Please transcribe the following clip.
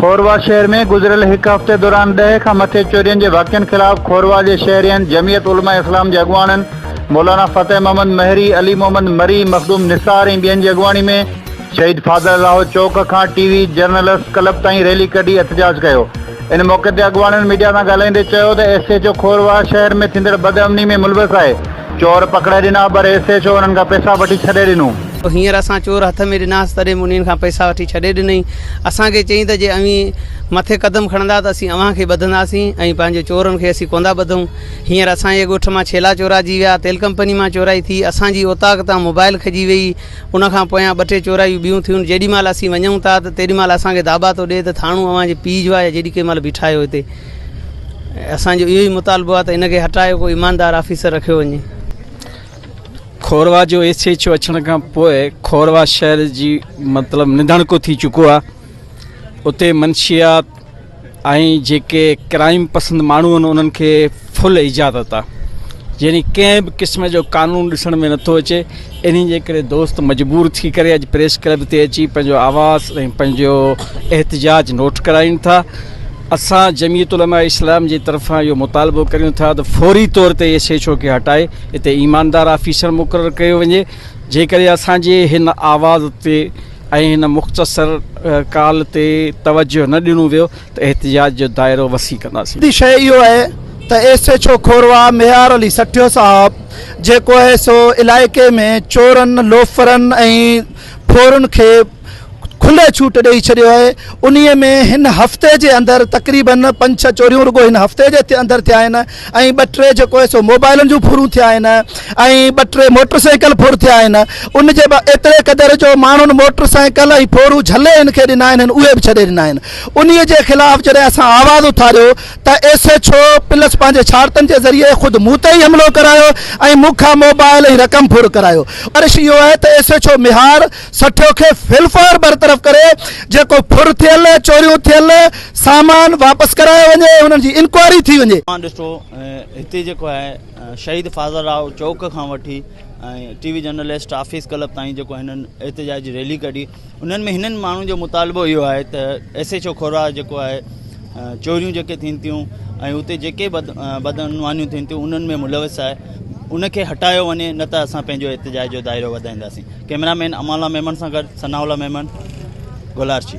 کوروا شهر ۾ گذريل هڪ هفتي دوران ڏهه کان مٿي چورين جي واقعن خلاف کوروا جي شهرين، جمعيت علماء اسلام جي اڳواڻن مولانا فتح محمد مهري، علي محمد مري، مخدوم نثار ۽ ٻين جي اڳواڻي ۾ شهيد فاضل الاهو چوڪ کان ٽي وي جرنلسٽ ڪلب تائين ريلي ڪڍي احتجاج ڪيو. ان موقعي تي اڳواڻن ميڊيا سان ڳالهائيندي چيو ته ايس ايڇ او کورواهه شهر ۾ ٿيندڙ بدامني ۾ ملوث آهي، چور پڪڙائي ڏنا پر ايس ايڇ او انهن کان پئسا وٺي ڇڏي ڏنو. هينئر اسان چور هٿ ۾ ڏناس تڏهن به انهن کان پئسا وٺي ڇڏي ڏنئي، اسان کي چيائين ته جي اوهين مٿي قدم کڻندا ته اسين اوهان کي ٻڌنداسين ۽ پنهنجي چورن کي اسين ڪوندا ٻڌون، هينئر اسان جي ڳوٺ مان ڇيلا چوراجي ويا، تيل ڪمپني مان چورائي ٿي، اسان جي اوطاق تان موبائل کڄي ويئي، ان کان پويان ٻه ٽي چورايون ٻيون ٿيون، جيڏي مهل اسين وڃون ٿا ته تيڏي مهل اسان کي داٻا ٿو ڏئي ته ٿاڻو اوهان جي پيء جو آهي يا جيڏي ڪنهن مهل بيٺايو هتي. اسان جو اهو ئي مطالبو آهي ته ان کي هٽايو ڪو ايماندار آفيسر رکيو وڃي. کوروا جو ايس ايڇ او اچڻ کان پوء کوروا شهر جي مطلب نڌڻڪو ٿي چڪو آهي. اتي منشيات، ۽ جيڪي ڪرائيم پسند ماڻهو آهن انهن کي فل اجازت آهي يعني ڪنهن به قسم جو قانون ڏسڻ ۾ نٿو اچي انهي جي ڪري دوست مجبور ٿي ڪري اڄ پريس ڪلب تي اچي پنهنجو آواز ۽ پنهنجو احتجاج نوٽ ڪرائين ٿا اسان جميعت علماء اسلام جي طرفان اهو مطالبو ڪريون ٿا ته فوري طور تي ايس ايڇ او کي هٽائي اتي ايماندار آفيسر مقرر ڪيو وڃي جيڪڏهن اسان جي هن آواز تي ۽ هن مختصر ڪال تي توجه نه ڏنو ويو ته احتجاج جو دائرو وسيع ڪنداسين. وڏي شيء اهو آهي ته S H O Khorwah Mehar Ali Sathio صاحب جيڪو آهي سو علائقي ۾ چورن، لوفرن ۽ ڦورن کي کلي ڇوٽ ڏئي ڇڏيو آهي انهي ۾ هن هفتي جي اندر تقريبن پنج ڇهه چوريون رڳو هن هفتي جي اندر ٿيا آهن. ۽ ٻه ٽي جيڪو آهي سو موبائلن جون ڦرون ٿيا آهن ۽ ٻه ٽي موٽر سائيڪل ڦر ٿيا آهن ان جي به ايتري قدر جو ماڻهن موٽر سائيڪل ۽ ڦورون جهلي هن کي ڏنا آهن هن اهي به ڇڏي ڏنا آهن انهي جي خلاف جڏهن اسان آواز اٿاريو ته ايس ايڇ او پلس پنهنجي شارتن جي ذريعي خود مون تي ئي حملو ڪرايو ۽ مون کان موبائل ۽ رقم ڦر ڪرايو گذارش اهو آهي ته S H O Mehar Sathio کي في الفور برطرف ڪري جيڪو ڦر ٿيل، چوريون ٿيل، سامان واپس ڪرايو وڃي ۽ انهن جي انڪوائري ٿي وڃي. اوهان ڏسو هتي جيڪو آهي شهيد فاضل راء چوڪ کان وٺي T V journalist office club تائين جيڪو هنن احتجاجي ريلي ڪڍي انهن ۾ هنن ماڻهن جو مطالبو اهو آهي ته ايس ايڇ او کورا جيڪو آهي چوريون جيڪي ٿين ٿيون ۽ اتي جيڪي بد بدعنوانيون ٿين ٿيون انهن ۾ ملوث آهي ان کي هٽايو وڃي نه ته اسان پنهنجو احتجاج جو دائرو وڌائينداسين ڪيمرا مين امان الله ميمڻ سان گڏ ثناء الله ميمڻ گولاچي.